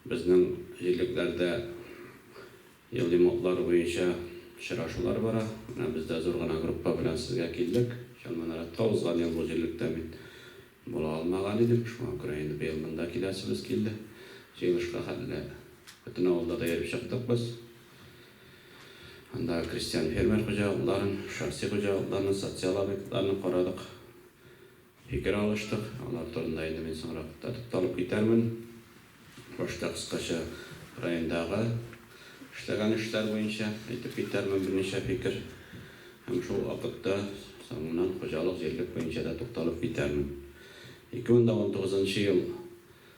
Безнең җирлекләрдә елый модлар буенча очрашулар бара. Менә без дә зур гына группа белән сезгә килдек. Чыннан рәттә узган ел бу җирлектә мин була алмаган идем. Шуңа күрә инде быел монда киләсебез килде. Җыелышка хәтле бөтен авылда да йөреп чыктык без. Андагы крестьян-фермер хуҗалыкларын, шәхси хуҗалыкларны, социаль объектларны карадык. Фикер алыштык, алар турында инде мин соңрак та тукталып китәрмен. Башта кыскача райондагы эшләгән эшләр буенча әйтеп китәрмен берничә фикер һәм шул ук вакытта соңыннан хуҗалык-җирлек буенча да тукталып китәрмен. 2019 ел.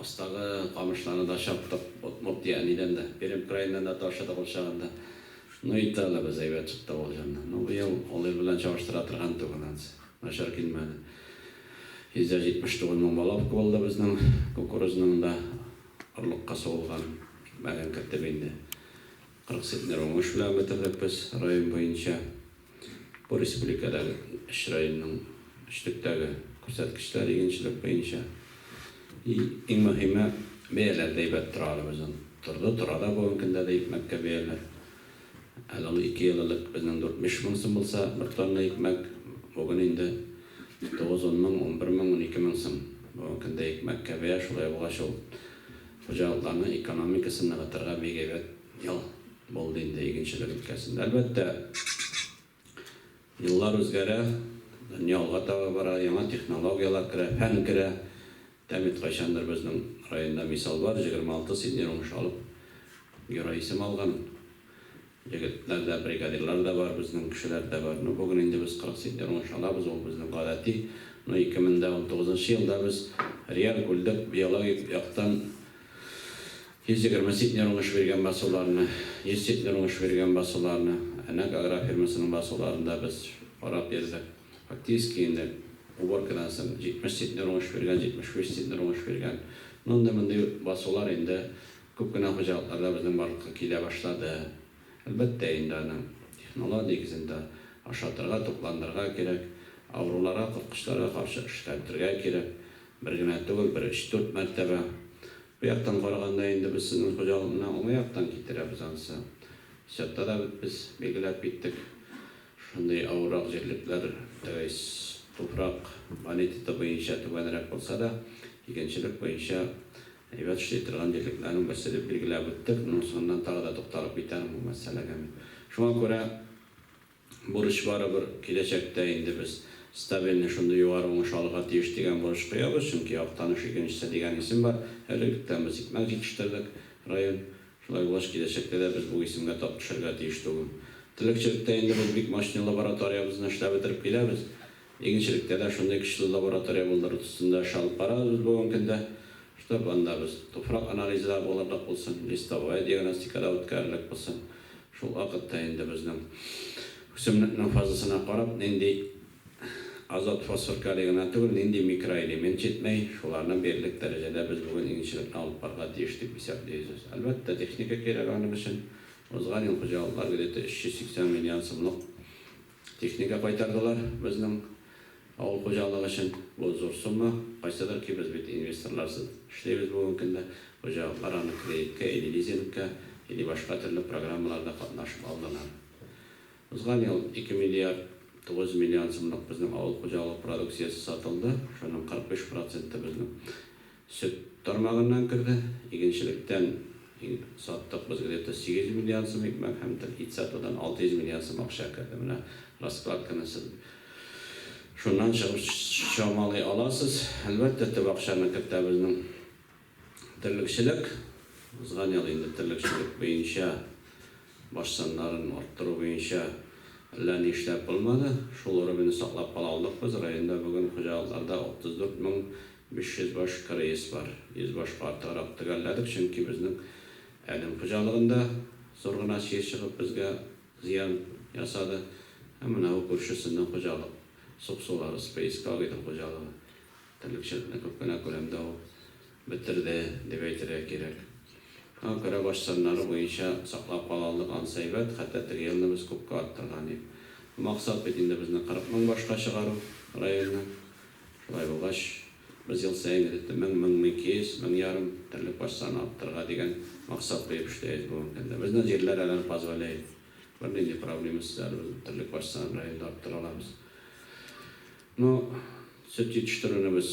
Астагы камышларны да чаптык, удмуртия әнидән дә, пермь краеннан да ташыдык ул чагында. Ну итте әле без, әйбәт чыкты ул җаннан. Ну быел ул ел белән чагыштыра торган түгел ансы, начар килмәде. 179 мең балак куылды безнең кукурузның да, орлыкка сугылган мәлен кертеп инде. 40 центнер уңыш белән бетердек без район буенча. Бу республикадагы өч районның өчлектәге күрсәткечләр игенчелек буенча. И, иң мөһиме, бәяләр дә әйбәт тора әле безнең. Торды, тора да бүгенге көндә дә икмәккә бәяләр. Әле ул ике ел элек безнең дүртмеш мең сум булса, бер тонна икмәк, бүген инде тугыз-ун мең, унбер мең, унике мең сум. Бүгенге көндә икмәккә бәя шулай булгач, ул Хуҗалыкларның экономикасын ныгытырга бик әйбәт ел булды инде игенчелек өлкәсендә. Әлбәттә, еллар үзгәрә, дөнья алга таба бара, яңа технологияләр керә, фән керә. Тәмит кайчандыр безнең районда мисал бар, 26 сиднер уңыш алып, герой исем алган. Егетләр дә, бригадирлар да бар, безнең кешеләр дә бар. Ну, бүген инде без 40 син ярмаш алабыз, ул безнең гадәти. Ну, 2019 нчы елда без реаль бүлдек, биологик яктан 120 син ярмаш биргән басуларны, 100 син ярмаш биргән басуларны, Әнәк агрофирмасының басуларын да без карап йөрдек. Фактически инде уборкадан соң 70 син ярмаш биргән, 75 син ярмаш биргән. Ну, андый-мондый басулар инде Күп кенә хуҗалыклар да безнең барлыкка килә башлады. Әлбәттә инде аны технолог нигезендә ашатырга, тукландырырга кирәк, авыруларга, корткычларга каршы эшкәртергә кирәк. Бер генә түгел, бер өч-дүрт мәртәбә. Бу яктан караганда инде без сезнең хуҗалык менә уңай яктан китерәбез ансы. Счетта да бит без билгеләп киттек. Шундый авыррак җирлекләр, то есть туфрак бонитеты буенча түбәнрәк булса да, игенчелек буенча, Әйбәт эшли торган җирлекләрнең берсе дип билгеләп үттек. Моның соңыннан тагы да тукталып китәр бу мәсьәләгә мин. Шуңа күрә бурыч барыбер киләчәктә инде без стабильный шундый югары уңыш алырга тиеш дигән бурыч куябыз, чөнки Актаныш игенчесе дигән исем бар. Әле электән без икмәк җитештердек, район. Шулай булгач, киләчәктә дә без бу исемгә тап төшәргә тиеш түгел. Терлекчелектә инде без бик мощный лабораториябезне эшләп бетереп киләбез. Игенчелектә дә шундый көчле лаборатория булдыру төстендә эш алып барабыз бүгенге көндә, чтоб анда без туфрак анализы да булырлык булсын, листовая диагностика да үткәрерлек булсын. Шул вакытта инде безнең үсемлекнең фазасына карап, нинди азот-фосфор-калий гына түгел, нинди микроэлемент җитмәй, шуларны бирерлек дәрәҗәдә без бүген игенчелекне алып барырга тиеш дип исәплибез. Әлбәттә, техника кирәк аның өчен. Узган ел хуҗалыклар где-то 380 миллион сумлык Техника кайтардылар безнең авыл хуҗалыгы өчен. Бу зур сумма. Кайсыдыр ки без бит инвесторларсыз эшлибез бүгенге көндә. Хуҗалыклар аны кредиткә или лизингка, или башка төрле программаларда катнашып алдылар. Узган ел 2 миллиард 900 миллион сумлык безнең авыл хуҗалыгы продукциясе сатылды, шуның 45 проценты безнең. Сөт тармагыннан керде. Игенчелектән саттык без где-то 800 миллион сум икмәк һәм ит сатудан 600 миллион сум акча керде. Менә раскладканы сез шуннан чыгып чамалый аласыз. Әлбәттә, төп акчаны кертә безнең терлекчелек. Узган ел инде терлекчелек буенча баш саннарын арттыру буенча әллә ни эшләп булмады. Шул уровеньны саклап кала алдык без. Районда бүген хуҗалыкларда 34 мең Биш йөз баш кореец бар. Йөз башка артыграк төгәлләдек, чөнки безнең Әлем хуҗалыгында зур гына чир чыгып безгә зыян ясады. Һәм менә бу күршесенең хуҗалык, Суксулар, Спеискагидің хуҗалыгы. Терлекчелекне күп кенә күләмдә ул бетерде, дип әйтергә кирәк. Аңа күрә баш саннары буенча саклап кала алдык, ансы әйбәт, хәтта теге елны без күпкә арттырган идек. Максат бит инде безнең 40 мең башка чыгару районны. Шулай булгач, без ел саен, гадәттә, мең, мең ике йөз, мең ярым терлек баш саны арттырырга дигән максат куеп эшлибез бүгенге көндә. Безнең җирләр әле аны позволяет. Бернинди проблемасыз әле без терлек баш санын районда арттыра алабыз. Ну, сөт җитештерүне без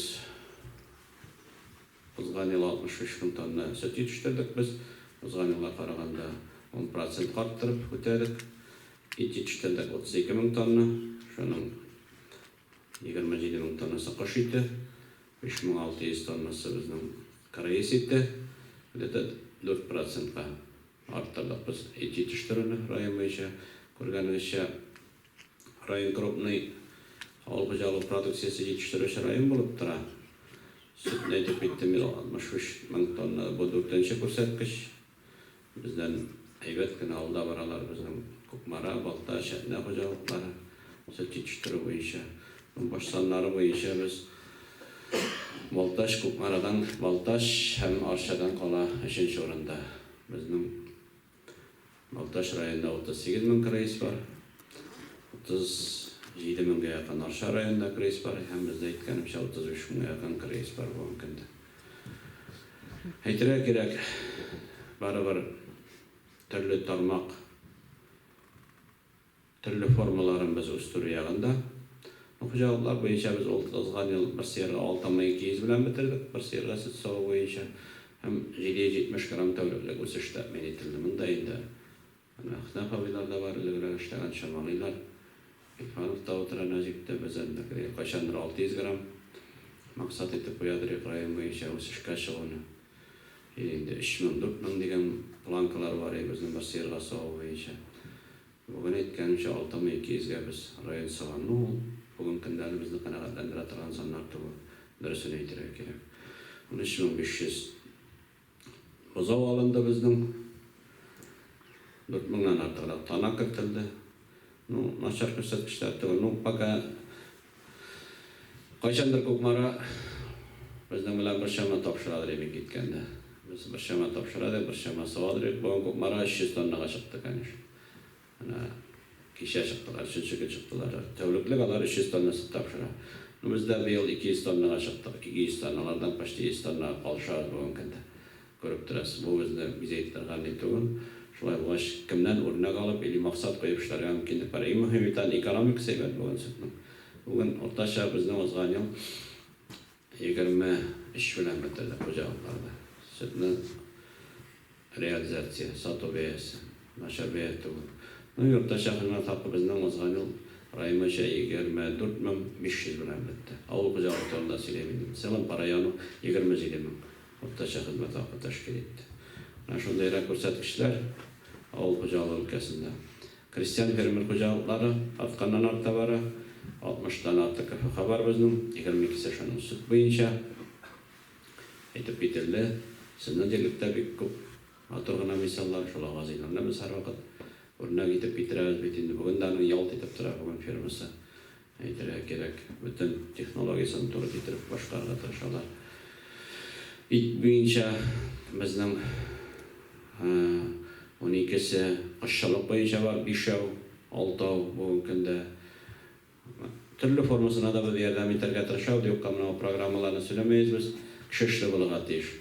узган ел 63 мең тонна сөт җитештердек без, узган елга караганда ун процентка арттырып үтәдек. Ит җитештердек 32 мең тонна, шуның 27 мең тоннасы кош ите, 3600 тоннасы безнең кыргыз ите, где-то 4 процентка арттырдык без ит җитештерүне район буенча. Күргәнегезчә, район крупный авыл хуҗалыгы продукциясе җитештерүче район булып тора. Сөтне әйтеп киттем мин, 63 мең тонна, бу дүртенче күрсәткеч. Бездән әйбәт кенә алда баралар безнең Кукмара, Балта, Чәтнә хуҗалыклары сөт җитештерү буенча. Баш саннары буенча без Балтач, Кукмарадан Балтач һәм Арчадан кала өченче урында. Безнең Балтач районында 38 мең крыс бар, 37 меңгә якын Арча районында крыс бар һәм бездә әйткәнемчә 35 меңгә якын крыс бар бүгенге көндә. Әйтергә кирәк, барыбер төрле тармак, төрле формаларын без үстерү ягында. Ну, хуҗалыклар буенча без ул узган ел бер сыерга 6 мең 200 белән бетердек, бер сыерга сөт саву буенча һәм 770 грамм тәүлеклек үсеш тәэмин ителде. Монда инде Менә Әхтәм абыйлар да бар, элегрәк эшләгән, чамалыйлар. Гилфанов та утыра Нәҗиптә, безәннекедәй, кайчандыр 600 грамм максат итеп куядыр йөк район буенча үсешкә чыгуны. Или инде 3000, 4000 дигән планкалар бар өебезнең бер сыерга саву буенча. Бүген әйткәнемчә, 6200 гә без район сыган. Ну, ул бүген көндәге безне канәгатьләндерә торган саннар түгел, дөресен әйтергә кирәк. 13500 Бозау алынды безнең. Дүрт меңнән артыграк тана кертелде. Ну, начар күрсәткечләр түгел. Ну, пока кайчандыр Кукмара безнең белән бер чама тапшыра дер идек киткәндә. Без бер чама тапшыра идек, бер чама сава дер идек. Бүген Кукмара 300 тоннага чыкты, конечно. Менә кичә чыктылар, өченче көн чыктылар. Тәүлеклек алар 300 тонна сөт тапшыра. Ну без дә быел 200 тоннага чыктык, 200 тонна, алардан почти 100 тоннага калышабыз бүгенге көндә. Күреп торасыз, бу безне бизәйтеп торган ни түгел. Шулай булгач, кемнән үрнәк алып или максат куеп эшләргә мөмкинлек бар. Иң мөһиме тагын экономикасы әйбәт бүген сөтнең. Бүген уртача безнең узган ел. Егерме өч белән бетерде хуҗалыкларда сөтне реализация, сату бәясе, начар бәя түгел. Ну и уртача хезмәт хакы безнең узган ел район буенча егерме дүрт мең биш йөз белән бетте. Авыл хуҗалыгы турында сөйлим инде. В целом по району егерме җиде мең уртача хезмәт хакы тәшкил итте. Менә шундый гына күрсәткечләр авыл хуҗалыгы өлкәсендә. Крестьян-фермер хуҗалыклары артканнан-арта бара. 60 тан артык КФХ бар безнең, егерме икесе шуның сөт буенча. Әйтеп кителде, сезнең җирлектә бик күп матур гына мисаллар, шул Агазыйларны без һәрвакыт үрнәк итеп китерәбез бит инде. Бүген дә аның ялт итеп тора, бүген фермасы. Әйтергә кирәк, бөтен технологиясен туры китереп башкарырга тырышалар. Ит буенча безнең уникесе, кошчылык буенча бар бишәү, алтау бүгенге көндә. Төрле формасына да без ярдәм итәргә тырышабыз, юкка менә бу программаларны сөйләмәйбез без. Кеше эшле булырга тиеш.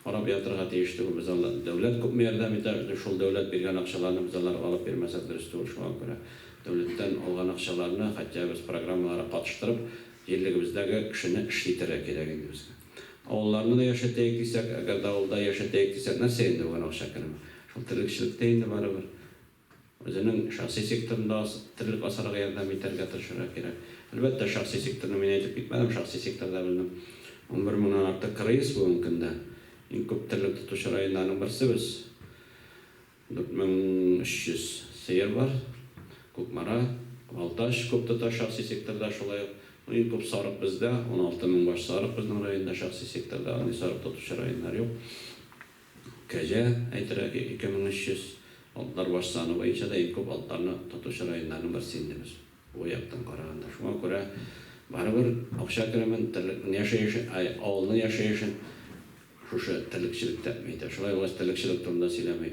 Карап ятырга тиеш түгел без алар. Дәүләт күпме ярдәм итә, без шул дәүләт биргән акчаларны без алар алып бирмәсәк дөрес түгел шуңа күрә. Дәүләттән алган акчаларны хәтя без программаларга катыштырып җирлегебездәге кешене эшли итәргә кирәк инде безгә. Авылларны да яшәтәек дисәк, әгәр дә авылда яшәтәек дисәк нәрсә инде бүген акча керми. Шул терлекчелектә инде барыбер. Үзенең шәхси секторын да терлек асарга ярдәм итәргә тырышырга кирәк. Әлбәттә, шәхси секторны мин әйтеп китмәдем, шәхси секторда белдем. Унбер меңнән артык кыргыйз бүгенге көндә. Иң күп терлек тотучы районнарның берсе без. 4300 сыер бар. Кукмара, Балтач күп тота шәхси секторда шулай ук. Ну, иң күп сарык бездә, 16 мең баш сарык безнең районда шәхси секторда, андый сарык тотучы районнар юк. Кәҗә, әйтерәк, 2300 атлар баш саны буенча да иң күп атларны тотучы районнарның берсе инде без, бу яктан караганда. Шуңа күрә барыбер акча керемен, терлекнең яшәешен, ай, авылның яшәешен шушы терлекчелек тәэмин итә. Шулай булгач, терлекчелек турында сөйләми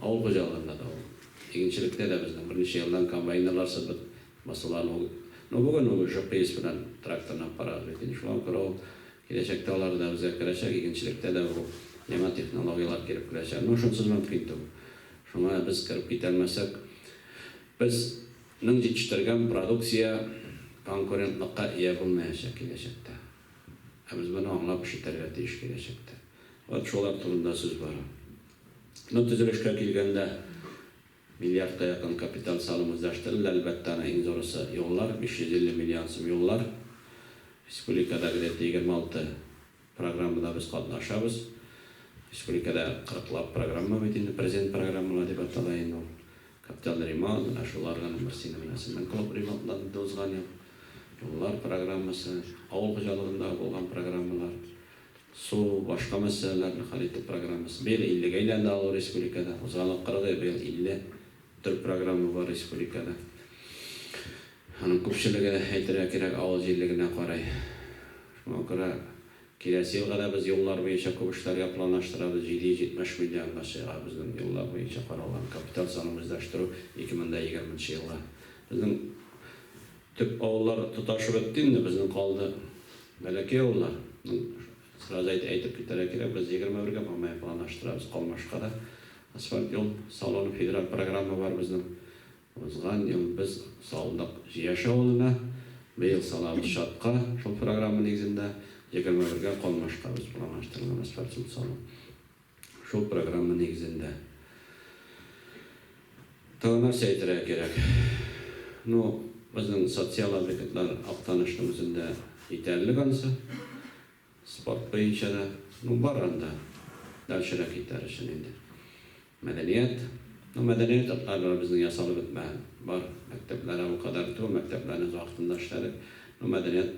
Авыл хуҗалыгында да ул, игенчелектә дә безнең берничә елдан комбайнерлар сыбып басулар ул. Ну бүген ул ЖПС белән тракторны аппарат бит инде шуңа күрә ул киләчәктә алар да безгә керәчәк, игенчелектә дә бу яңа технологияләр килеп керәчәк. Ну шунсыз мөмкин түгел. Шуңа без кереп китәлмәсәк, без нең җитештергән продукция конкурентлыкка ия булмаячак киләчәктә. Ә без моны аңлап эш итәргә тиеш киләчәктә. Вот шулар турында сүз бара. Ну, төзелешкә килгәндә, миллиардка якын капиталь салым үзләштерелде, әлбәттә, аның иң зурысы, юллар, 550 миллион сум юллар. Республикада где-то егерме алты программада без катнашабыз. Республикада кырыклап программа бит инде, президент программалары дип атала инде ул. Капиталь ремонт, менә шул органның берсе инде менә Семен клуб ремонтланды инде узган ел. Юллар программасы, авыл хуҗалыгындагы булган программалар, су, башка мәсьәләләрне хәл итү программасы. Быел иллегә әйләнде авыл республикада. Узган акырды, быел 50 төр программа бар республикада. Аның күпчелеге, әйтергә кирәк, авыл җирлегенә карый. Шуңа күрә киләсе елга да без юллар буенча күп эшләргә планлаштырабыз. 770 миллионга чыга безнең юллар буенча каралган капиталь санын үзләштерү 2020 нчы елга. Безнең. Төп авыллар тоташы бетте инде, безнең калды бәләкәй авыллар. Ну, сразу әйтеп әйтеп китәргә кирәк, без егерме бергә Мамаев планлаштырабыз, Калмашка да асфальт юл салуны федераль программа бар безнең. Узган ел без салдык Җияш авылына, быел салабыз Чатка, шул программа нигезендә егерме бергә Калмашка без планлаштырган асфальт юл салу. Шул программа нигезендә. Тагын нәрсә әйтергә кирәк? Ну, безнең социаль объектлар Актанышның үзендә җитәрлек анысы. Спорт буенча да. Ну, бар анда. Дальшерәк китәр өчен инде. Мәдәният. Ну, мәдәният йортлары безнең ясалып бетмәгән. Бар. Мәктәпләр әле ул кадәр түгел. Мәктәпләрне вакытында эшләдек. Ну, мәдәният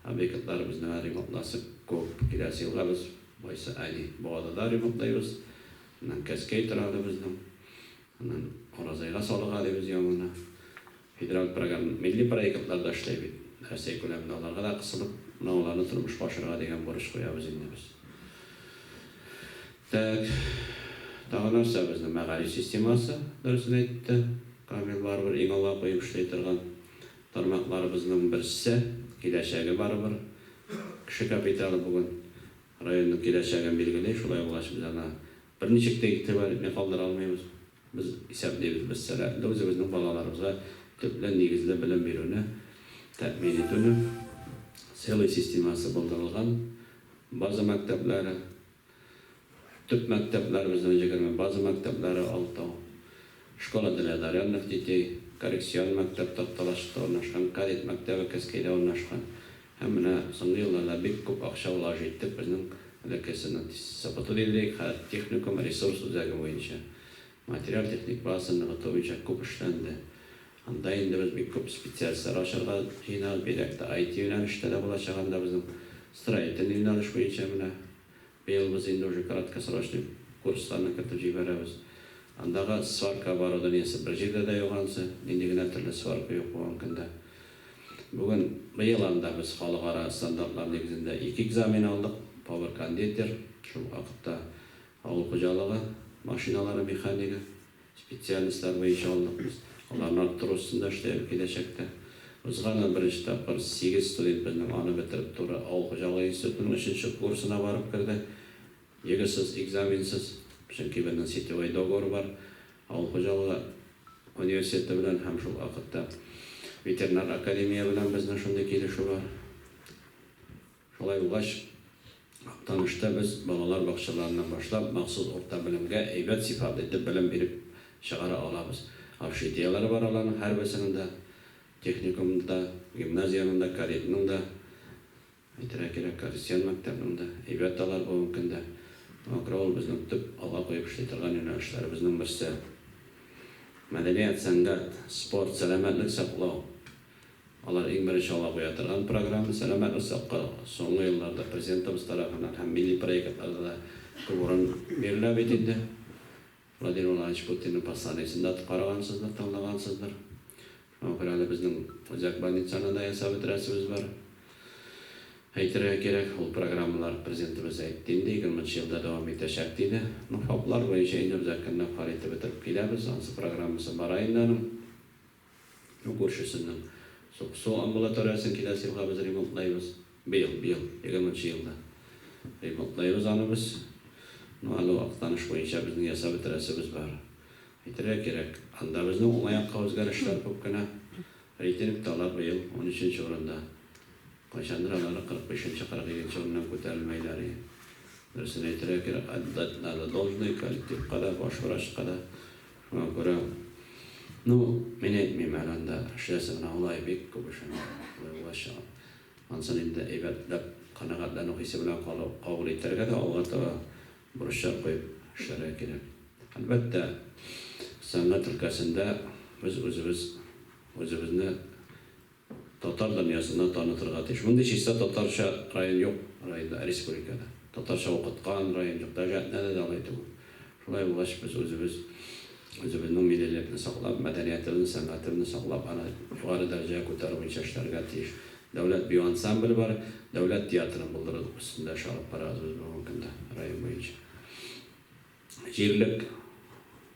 объектлары безнең әле ремонтласы күп. Киләсе елга без Байсы Али, Буада да ремонтлыйбыз, аннан Кәскәй торагы безнең, аннан Оразайга салык алыйбыз яңаны. Федераль программ, милли проектлар да эшләй бит Рәсәй күләмендә, аларга да кысылып, менә аларны тормышка ашырырга дигән бурыч куябыз инде без. Тәк, тагы нәрсә безнең мәгариф системасы, дөресен әйтте Камил, барыбер иң алга куеп эшли торган тармакларыбызның берсе, киләчәге барыбер Кеше капиталы бүген районның киләчәген билгели, шулай булгач, без аңа берничек тә игътибар итми калдыра алмыйбыз. Без исәплибез, без сәләтле, үзебезнең балаларыбызга төпле, нигезле белем бирүне тәэмин итүне, целый системасы булдырылган, база мәктәпләре, Төп мәктәпләребезнең җегерме база мәктәпләре Алтау, Школа для одаренных детей, Коррекцион мәктәп Такталашта урнашкан, Кадет мәктәбе Кәскәйдә урнашкан һәм менә соңгы елларда бик күп акча влажу иттек безнең бәләкәй сынатист Сабатуллинле хәрт техникум ресурс үзәге буенча материаль-техник базасын ныгыту буенча күп эшләнде Анда инде без бик күп специалистлар ачарга җыенабыз, бигрәк тә IT юнәлештә дә булачак анда безнең строительный юнәлеш буенча менә быел без инде уже краткосрочный курсларны кертеп җибәрәбез. Андагы сварка оборудованиесе бер җирдә дә юк ансы, нинди генә төрле сварка юк булган көндә. Бүген, быел анда без халыкара стандартлар нигезендә ике экзамен алдык, повар-кондитер, шул вакытта авыл хуҗалыгы машиналары механигы. Специалистлар буенча алдык без. Аларны арттыру өстендә эшләйбез киләчәктә. Узган ел беренче тапкыр сигез студент безнең аны бетереп туры авыл хуҗалыгы институтының өченче курсына барып керде. Егысыз, экзаменсыз. Чөнки безнең сетевой договор бар авыл хуҗалыгы университеты белән һәм шул вакытта ветеринар академия белән безнең шундый килешү бар. Шулай булгач, Актанышта без балалар бакчаларыннан башлап, махсус урта белемгә әйбәт сыйфатлы итеп белем биреп чыгара алабыз. Общежитиеләре бар аларның һәрберсенең дә, техникумның да, гимназиянең дә, кадетның да, әйтергә кирәк, крестьян мәктәпнең дә. Әйбәт алар бүгенге көндә. Акры авыл безнең төп алга куеп эшли торган юнәлешләребезнең берсе. Мәдәният, сәнгать, спорт, сәламәтлек саклау. Алар иң беренче алга куя торган программа, сәламәт озакка, соңгы елларда Президентыбыз тарафыннан һәм милли проектларда да күп урын бирелә бит инде. Владимир Владимирович Путинның посланиесен дә карагансыздыр, тыңлагансыздыр. Шуңа күрә әле безнең үзәк больницаны да ясап бетерәсебез бар. Әйтергә кирәк, ул программалар Президентыбыз әйтте инде, егерме нчы елда дәвам итәчәк диде. Ну, ФАПлар буенча инде үзәкне дә карый итеп бетереп киләбез. Ансы программасы бара инде аның. Ну күршесенең су су амбулаториясен киләсе елга без ремонтлайбыз. Быел, быел, егерме нче елда ремонтлайбыз аны без. Ну әле Актаныш буенча безнең ясап бетерәсебез бар. Әйтергә кирәк, анда безнең уңай якка үзгәрешләр күп кенә. Рейтингта алар быел унөченче урында. Кайчандыр алары кырык бишенче, кырык икенче урыннан күтәрелмәйләр иде. Дөресен әйтергә кирәк, отдать надо должное коллективка да, баш врачка да, Бара. Ну, мин әйтмим әле анда, эшләсен генә алай, бик күп эшең булачак. Ансын инде әйбәтләп, канәгатьләнү хисе белән калу, кабул итәргә дә, алга таба бурыча куеп эшләргә кирәк. Әлбәттә, сәнгать өлкәсендә без үзебез үзебезне татар дөньясына танытырга тиеш. Мондый чиста татарча район юк районда, республикада. Татарча укыткан район юк, даже әтнәдә дә алай түгел. Шулай булгач, без үзебез, үзебезнең миллилекне саклап, мәдәниятебезне, сәнгатебезне саклап, аны югары дәрәҗәгә күтәрү буенча эшләргә тиеш. Дәүләт бию ансамбле бар, дәүләт театрын булдыру өстендә эш алып барабыз без бүгенге көндә район буенча. Җирлек.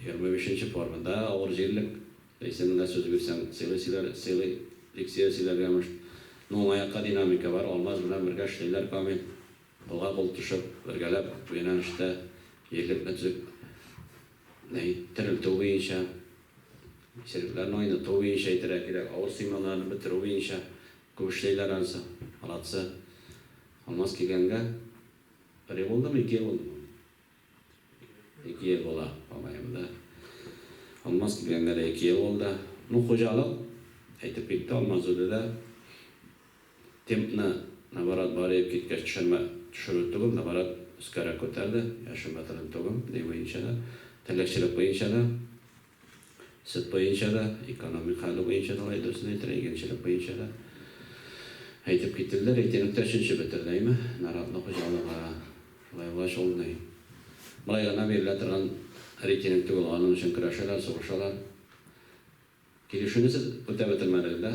Егерме бишенче формада авыр җирлек исеменә сүз бирсәң, сыйлый сөйләр, сыйлый лексия сөйләргә мышт. Ну, маякка динамика бар, Алмаз белән бергә эшлиләр Камил, кулга кул төшеп, бергәләп бу юнәлештә җирлекне төзек не терелтү буенча, иселекләрне айныту буенча әйтергә кирәк, авыр сыймаларны бетерү буенча күп эшлиләр ансы, молодцы. Алмаз килгәнгә бер ел булдымы, ике ел булдымы? Ике ел була, бабаем да Алмаз килгәнгә дә ике ел булды. Ну, хуҗалык, әйтеп китте Алмаз үзе дә. Темпны, наоборот, бар иеп киткәч, төшермә төшерү түгел, наоборот, өскәрәк күтәрде, яшен бетерде түгел, ни буенча да, терлекчелек буенча да. Сөт буенча да, экономик хәле буенча да, алай дөресен әйтергә, игенчелек буенча да әйтеп киттелдер. Әйтерлек тә өченче бетер дәйме, наратлы хуҗалыгы шулай була шул ни. Болай гына бирелә торган рейтинг түгел, аның өчен көрәшәләр, сугышалар. Килешүне сез үтә бетермәдегез дә.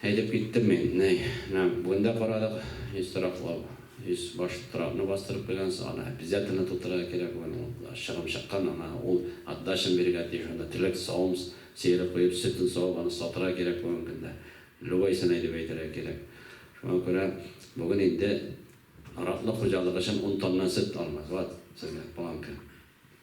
Әйтеп киттем мин, нәй. Менә бүген дә карадык, өч тораклау, өч баш торакны бастырып куйгансың, аны обязательно тутырырга кирәк, бүген ул чыгым чыккан, аңа ул отдачаны бирергә тиеш, анда теләк савым сыеры куеп, сөтен савып, аны сатырга кирәк бүгенге көндә, любойсенай дип әйтергә кирәк. Шуңа күрә бүген инде тораклы хуҗалык өчен ун тонна сөт алмый, вот сезгә планка.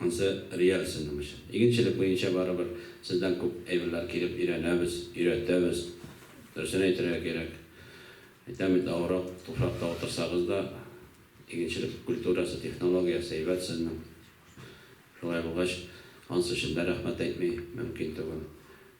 Ансы реаль сыным өчен. Игенчелек буенча барыбер сездән күп әйберләр килеп өйрәнәбез, өйрәтәбез. Дөресен әйтергә кирәк. Әйтәм бит, авыррак туфракта утырсагыз да, игенчелек культурасы, технологиясе әйбәт сезнең. Шулай булгач, ансы өчен дә рәхмәт әйтми мөмкин түгел.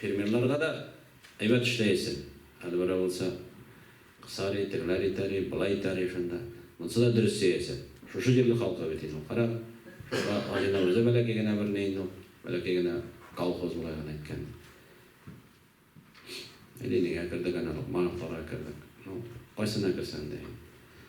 Фермерларга да әйбәт эшләясең. Әле берәү булса, кысари, тегеләр итәри, болай итәри шунда. Монсы да дөрес сөясең. Шушы җирле халкы бит инде ул. Кара, шунда Азина үзе бәләкәй генә бер ни инде ул. Бәләкәй генә колхоз болай гына әйткәндә. Ленинга кердек, әнә Локмановларга кердек. Ну, кайсына керсәң дә инде.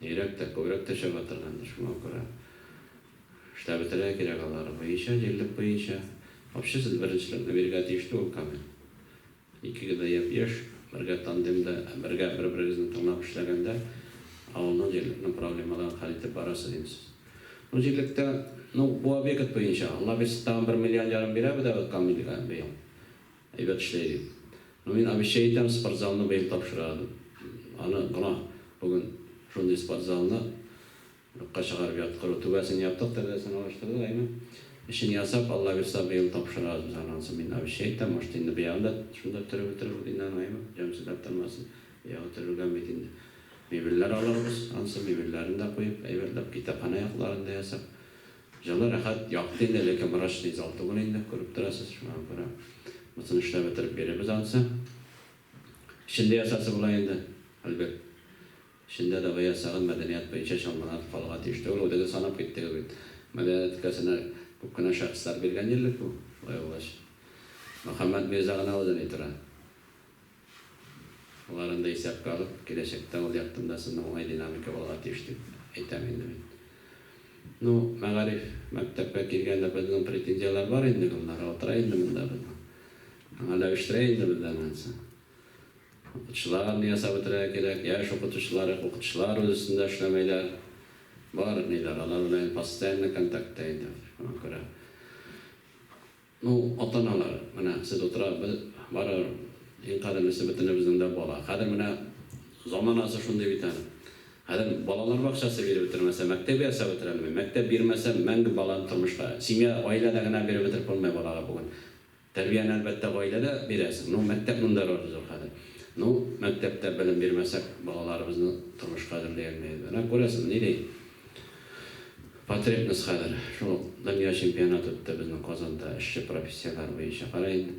Йөрәк тә күбрәк тешеп атыргандыр, шуңа күрә штабетерә кирәк алары буенча, җирлек буенча обществен беренчелекне бирергә тиеш түгел Камил. Икегез дә япь-яшь, бергә тандемда, бергә бер-берегезне тыңлап эшләгәндә авылның, җирлекнең проблемаларын хәл итеп барырсыз инде сез. Ну җирлектә, ну бу объект буенча, Аллабирса тагын бер миллион ярым бирә бедәбез Камилгә быел. Әйбәт эшләй бит. Ну мин обещай итәм, спортзалны быел тапшыра Аны гөнаһ бүген шундый спортзалны юкка чыгарып яткыру. Түбәсен яптык, тәрәзәсен алыштырдык, әйме? Эчен ясап, Аллабирса быел тапшырабыз без аны ансын мин обещай итәм, может инде быягын да шунда төреп бетерербез инде аны, әйме? Җанкисәгә аттырмасын, быягы төрелгән бит инде. Мебельләр алырбыз ансын, мебельләрен дә куеп, әйбәтләп, китапханә якларын да ясап, Җаны рәхәт, якты инде, ләкин врач тиз ал түгел инде, күреп торасыз, шуңа күрә мотыны эшләп бетереп бирербез анысы. Эчендә ясасы була инде, Альберт. Эчендә дәва ясагыз, мәдәният буенча чамаланып калырга тиеш түгел, үзегез санап киттегез бит. Мәдәният өлкәсенә күп кенә шәхесләр биргән җирлек бу, шулай булгач. Мөхәммәт мирза гына үзен ни тора. Аларын да исәпкә алып, киләчәктә ул яктында сезнең уңай динамика булырга тиеш дип әйтәм инде мин. Ну, мәгариф, мәктәпкә килгәндә безнең претензияләр бар инде, Гөлнара утыра инде монда безнең. Аңа ләвештирә инде бездән анысы. Укытучыларны ясап бетерергә кирәк, яшь укытучылар, укытучылар үз өстендә эшләмәйләр. Бар, ниләр, алар белән постоянно контактта инде, шуңа күрә. Ну, ата-аналар, менә сез утырабыз, барыбер иң кадерлесе бөтенебезнең дә бала. Хәзер менә заманасы шундый бит әле. Хәзер балалар бакчасы биреп бетермәсә, мәктәп ясап бетерелми. Мәктәп бирмәсә, мәңге баланы тормышка, семья, гаиләдә генә биреп бетереп булмый балага бүген. Тәрбияне, әлбәттә, гаиләдә бирәсең. Ну, мәктәп монда роль зур хәзер. Ну, мәктәптә белем бирмәсәк, балаларыбызны тормышка әзерли алмыйбыз. Менә күрәсең, ни ди. Потребность хәзер шул ук дөнья чемпионаты үтте безнең Казанда эшче профессияләр буенча. Кара инде,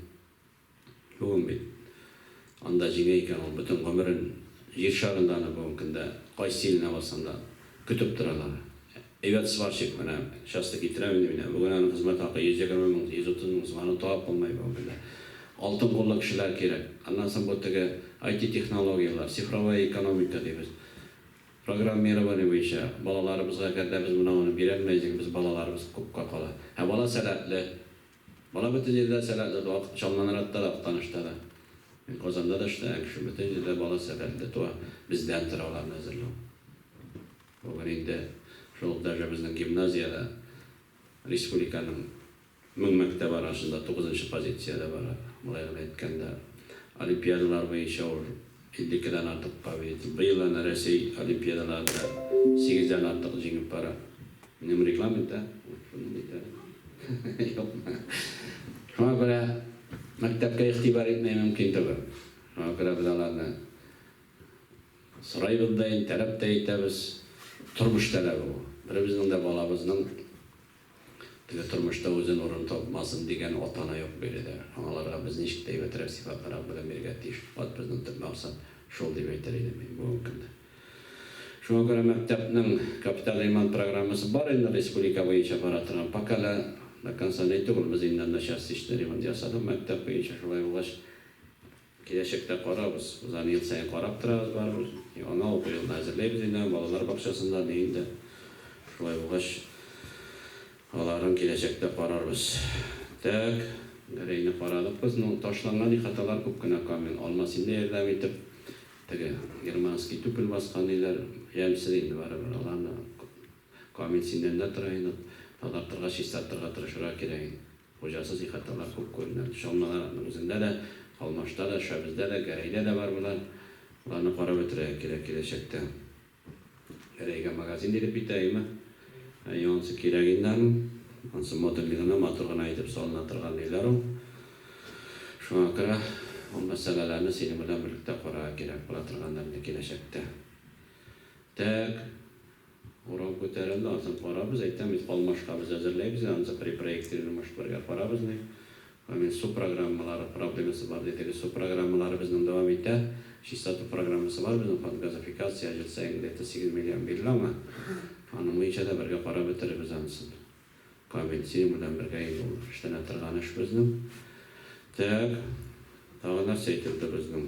бүген бит анда җиңә икән, ул бөтен гомерен җир шарында аны бүгенге көндә кайсы иленә барсаң да көтеп торалар. Әйбәт сварщик, менә часто китерәм инде мин, ә бүген аның хезмәт хакы 120 мең, 130 мең сум, аны табып булмый бүгенге көндә. Алтын куллы кешеләр кирәк. Аннан соң бу теге IT-технологияләр, цифровая экономика дибез. Программирование буенча балаларыбызга әгәр дә без менә аны бирәлмәйсек, без балаларыбыз купка кала. Ә бала сәләтле. Бала бөтен җирдә дә сәләтле туа. Чалланракта да, Актанышта да. Мин Казанда да эшләгән кеше. Бөтен җирдә бала сәләтле туа. Бездән тора аларны әзерләү. Бүген инде шул даже безнең гимназиядә республиканың Мең мәктәп арасында тугызынчы позициядә бара, болай гына әйткәндә. Олимпиадалар буенча ул иллекедән артык побед. Быел әнә Рәсәй олимпиадаларында сигездән артык җиңеп бара. Минем регламент, ә? Ул шуны дип әйтә. Юкмы? Шуңа күрә мәктәпкә игътибар итмәү мөмкин түгел. Шуңа күрә без аларны сорыйбыз да, интәрәп тә итәбез. Тормыш таләбе бу. Беребезнең дә балабызның Әле тормышта үзен урын тапмасын дигән ата-ана юк биредә. Аналарга без ничек тә әйбәтрәк сыйфатлырак белем бирергә тиеш. Фәкать безнең төп максат шул, дип әйтер идем мин бүгенге көндә. Шуңа күрә мәктәпнең капиталь ремонт программасы бар инде республика буенча бара торган. Пока әле до конца ни түгел, без инде начар сичне ремонт ясадык мәктәп буенча, шулай булгач, Киләчәктә карабыз. Без аны ел саен карап торабыз барыбер. Яңа уку елына әзерләйбез инде аны, балалар бакчасында да, өендә. Шулай булгач, аларын киләчәктә карарбыз. Так, Гәрәйне карадык без. Ну, ташланган ихаталар күп кенә камил. Алмас инде ярдәм итеп. Теге германский түкел баскан өйләр ямьсез инде барыбер. Аларны камил симнәрендә тора инде. Тазартырга, чистартырга тырышырга кирәк инде. Хуҗасыз ихаталар күп күренә. Чалмаларның үзендә дә, Калмашта да, Шәбездә дә, Гәрәйдә дә бар болар. Боларны карап бетерергә кирәк киләчәктә. Гәрәйгә магазин биреп битәйме? Әйе, ансы кирәк инде аның. Ансы модульный гына, матур гына итеп салына торган өйләр ул. Шуңа күрә ул мәсьәләләрне синең белән берлектә карарга кирәк була торгандыр инде киләчәктә. Тәк. Урам күтәрелде, ансын карабыз, әйтәм бит, калмашкабыз әзерләйбез, ансы при проектировании машикларга карабыз, ди. Гомумән, су программалары проблемасы бар дидегез. Су программалары безнең дәвам итә. Чистоту программасы бар безнең, фонд газификация, ел саен где-то 8 миллион бирелә аңа. Аның буенча да бергә карап бетерербез ансын. Камил, синең белән бергә инде ул эшләнә торган эш безнең. Тәк, тагы нәрсә әйтелде безнең?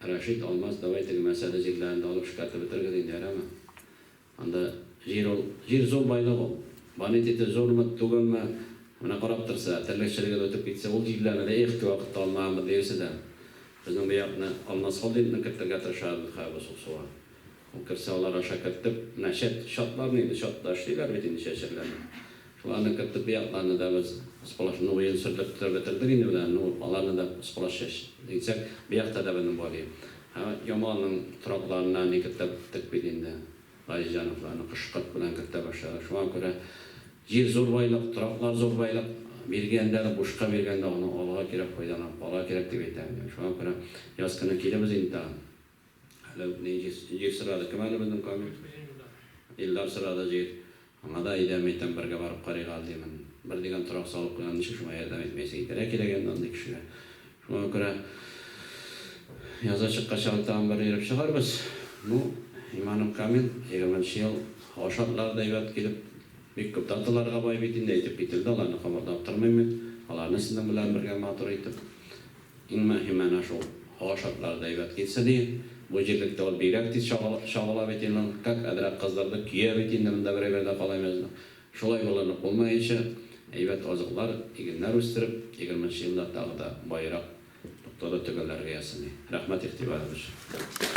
Рәшит, Алмаз, давай теге мәсьәлә җирләрен дә алып шкәртеп бетерегез инде, ярәме? Анда җир ул, җир зур байлык ул. Бонитеты зурмы, түгелме, менә карап торса, терлекчелегез үтеп китсә, ул җирләрне дә их, кевакытта алмаганбыз диерсез әле. Безнең бу якны Алмаз Холдингны кертергә тырышабыз, Михаил Босуксуга. Керсә алар аша кертеп, менә чәт, чатларны инде, чатташ диләр бит инде чәчәкләрне. Шуларны кертеп, бу якларны да без сполошноен сөртеп тә бетердек инде менә, ну, аларны да сполош чәч дисәк, бу якта да безнең бар ди. Ә Ямалның торакларына ни кертә беттек бит инде. Газизҗановларны кош-корт белән кертә башлады. Шуңа күрә җир зур байлык, тораклар зур байлык. Биргәндә дә, бушка биргәндә аны алга кирәк, файдаланып алга кирәк дип әйтәм. Шуңа күрә яз көне килебез инде тагын. Әле үк ни җир, җир сорады. Кем әле безнең Камил? Әле безнең Илдар. Илдар сорады җир. Аңа да әйдәме икән, бергә барып карыйк әле, димен. Бер дигән торак салып куйган, ничек шуңа ярдәм итмәйсең? Итәргә кирәк инде андый кешегә. Шуңа күрә язга чыкканчы әле тагын бер йөреп чыгарбыз. Ну, иманым камил, егерменче ел һава шартлары да әйбәт килеп, бик күп даталарга бай бит инде, әйтеп кителде, аларны кабатлап тормыйм мин. Аларны сезнең белән бергә матур итеп. Иң мөһиме әнә шул, һава шартлары да әйбәт килсә ди. Бу җирлектә ул бигрәк тиз чагыла бит инде. Как әдрәк кыздырды, көя бит инде монда берәү гә дә калаймыз. Шулай булынып булмаенча, әйбәт азыклар, игеннәр үстереп, егерменче елда тагы да баерак, тоткалы төгәлләргә ясыйм. Рәхмәт игътибарыгыз өчен.